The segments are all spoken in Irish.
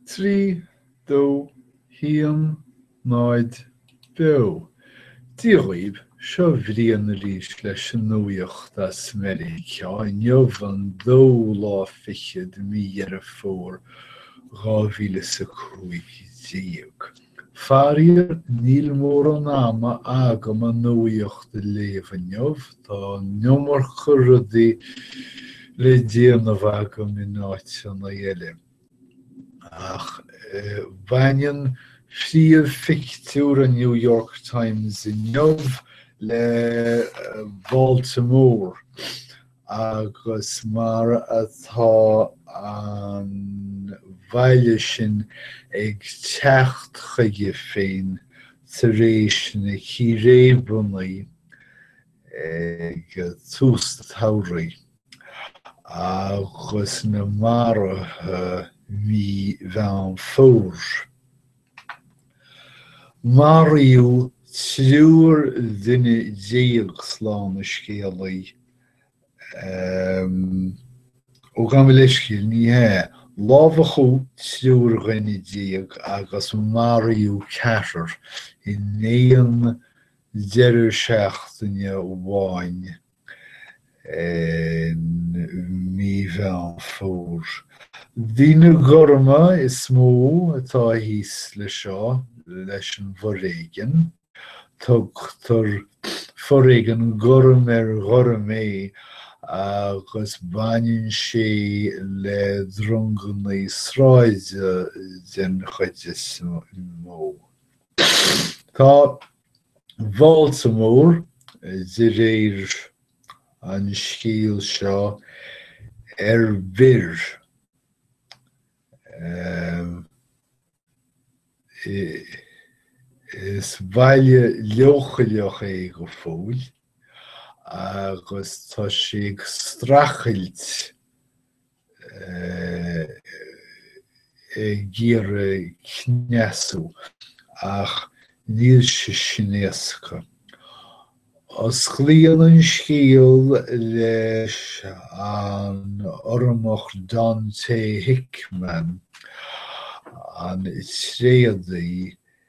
3, 2, 1, 0, Beo! Dia dhaoibh, seo Brian arís leis an nuaíocht as Meiriceá, inniu an dóú lá fichead de mí Dheireadh Fómhair, dhá mhíle is a cúig déag. Faraíor, níl mórán ama agam an nuaíocht a léamh inniu, tá an iomarca rudaí le déanamh agam in áiteanna eile. Ach baineann príomh-phictiúr an New York Times inniu le Baltimore Agus mar atá an baile sin ag teacht chuige féin tar éis na círéibeannaí ag tús an tsamhraidh, agus na maruithe mí Mheán Fómhair, Maraíodh triúr dhuine déag slán an scéalaí, ó gabh mo leithscéal, ní hea, lámhachadh triúr dhuine déag agus maraíodh ceathrar in aon deireadh seachtaine amháin. I mí Mheán Fómhair, daoine gorma is mó atá thíos leis seo, leis an bhforéigean. Tugtar foréigean gorm ar ghorm é agus baineann sé le drongannaí sráide den chuid is mó. Tá Baltimore, de réir an scéal seo ar bior. Is baile leochaileach é go fóill agus tá sé ag streachailt ag iarraidh cneasú, ach níl sé sin éasca. Osclaíonn an scéal leis an Urramach Donte Hickman, an tréadaí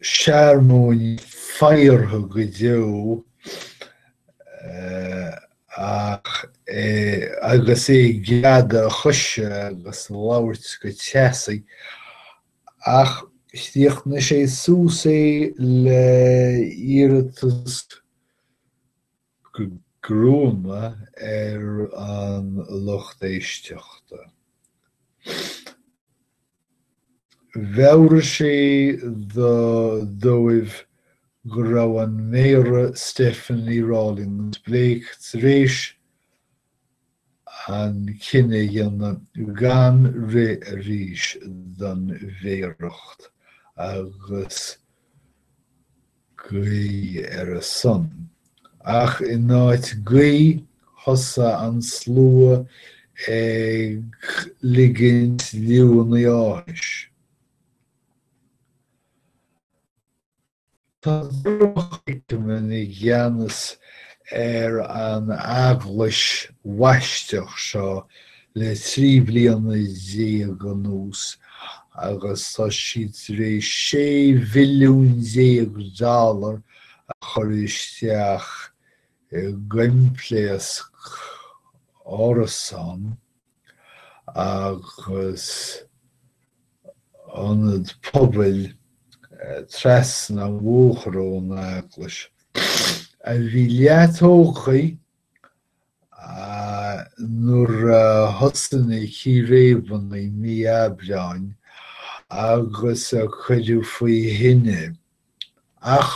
searmóin faghartha go deo aige agus é ag greadadh a choise agus ag labhairt go teasaí, ach chríochnaigh sé suas é le iarratas gruama ar an lucht éisteachta. Mheabhraigh sé dóibh go raibh an Méara Stephanie Rawlings-Blake tar éis an cinneadh a dhéanamh gan rith arís don mhéaracht agus guí ar a son, Ach in áit guí, thosaigh an slua ag ligint liúnna áthais. Tá Dr. Hickman i gceannas ar an eaglais bhaisteach seo le trí bliana déag anuas agus tá siad tar éis 16 mhilliún dollar a chur isteach i gcoimpléasc árasán agus ionad pobail trasna an bhóthair ón eaglais, a bhí leath tógtha nuair a thosaigh na círéibeanna i mí Aibreáin agus a cuireadh faoi thine. Ach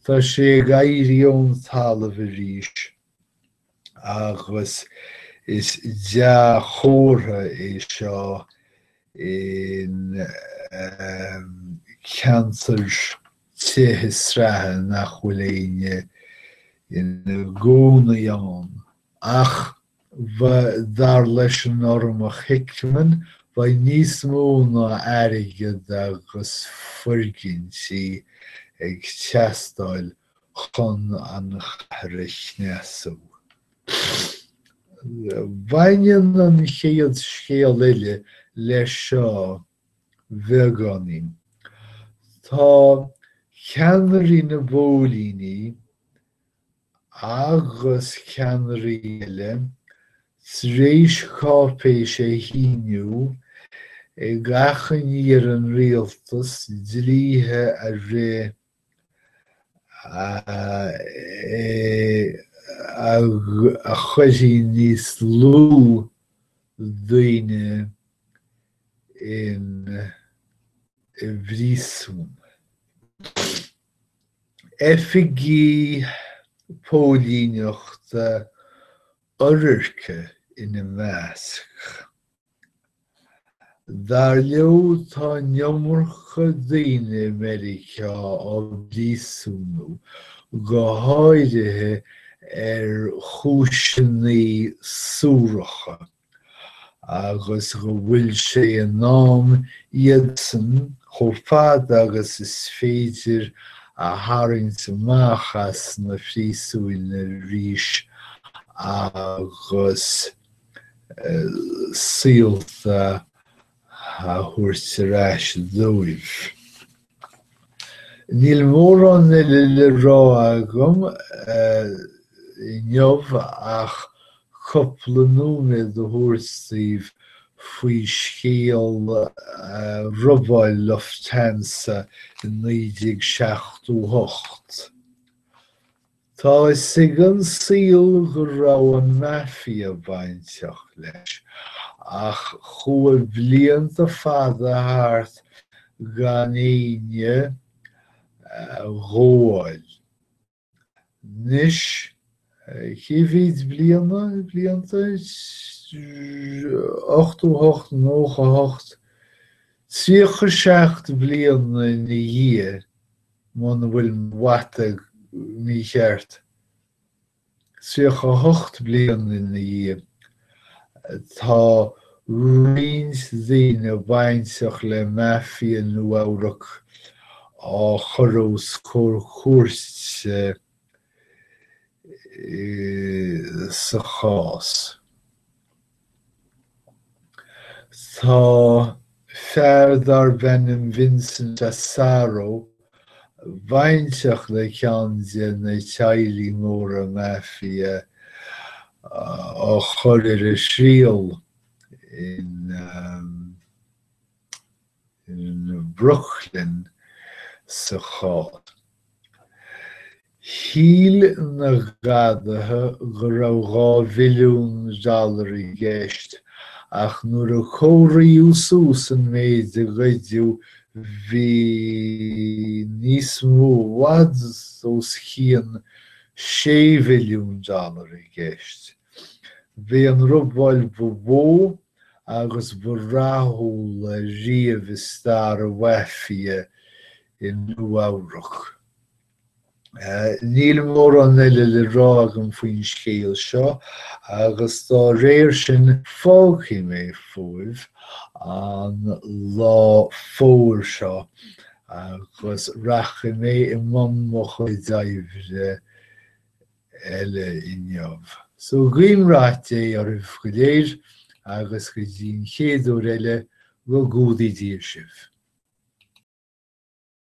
tá sé ag éirí ón talamh arís. agus is dea-chomhartha é seo i gceantar tithe sraithe nach bhfuil éinne ina gcónaí ann. Ach, ba dar leis an Urramach Hickman, bhí níos mó ná airgead agus foirgintí ag teastáil chun an chathair a chneasú. Baineann an chéad scéal eile leis seo beagáinín. Tá ceannairí na bpóilíní agus ceannairí eile tar éis cáipéis a shíniú ag achainí ar an rialtas dlíthe a rith a chuirfeadh níos lú daoine i bpríosún. Oifigigh póilíneachta oirirce ina measc. Dar leo tá an iomarca daoine i Meiriceá á bpríosúnú, go háirithe ar chúiseanna suaracha, agus go bhfuil sé in am iadsan, chomh fada agus is féidir, a tharraingt amach as na príosúin arís agus, saolta a thabhairt ar ais dóibh. Níl mórán eile le rá agam inniu ach cúpla nóiméad a thabhairt daoibh faoi scéal robáil Lufthansa i 1978. Tá a fhios ag an saol go raibh an Mafia bainteach leis, ach chuaigh blianta fada thart gan éinne a ghabháil. Anois, cé mhéid bliana, blianta? Ochtó hocht, nócha hocht? Tríocha seacht bliana ina dhiaidh muna bhfuil mo mhata mícheart. Tríocha a hocht bliain ina dhiaidh, tá roinnt daoine bainteach le Mafia Nua-Eabhrac á gcur os comhair cúirte sa chás. Tá fear darb ainm Vincent Asaro bainteach le ceann de na teaghlaigh móra Mafia á chur ar a thriail in. Brooklyn sa chás. Shíl na gadaithe go raibh dhá mhilliún dollar i gceist, ach nuair a comhairíodh suas an méid a goideadh, bhí níos mó, i bhfad os chionn sé mhilliún dollar i gceist. B'é an robáil ba mhó agus ba rathúla riamh i stair an Mhaifia i Nua-Eabhrac. Níl mórán eile le rá agam faoin scéal seo agus dá réir sin fágfaidh mé fúibh an lá fómhair seo agus rachaidh mé i mbun mo chuid oibre eile inniu. So guím rath Dé oraibh go léir agus go dtí an chéad uair eile, go gcumhdaí Dia sibh.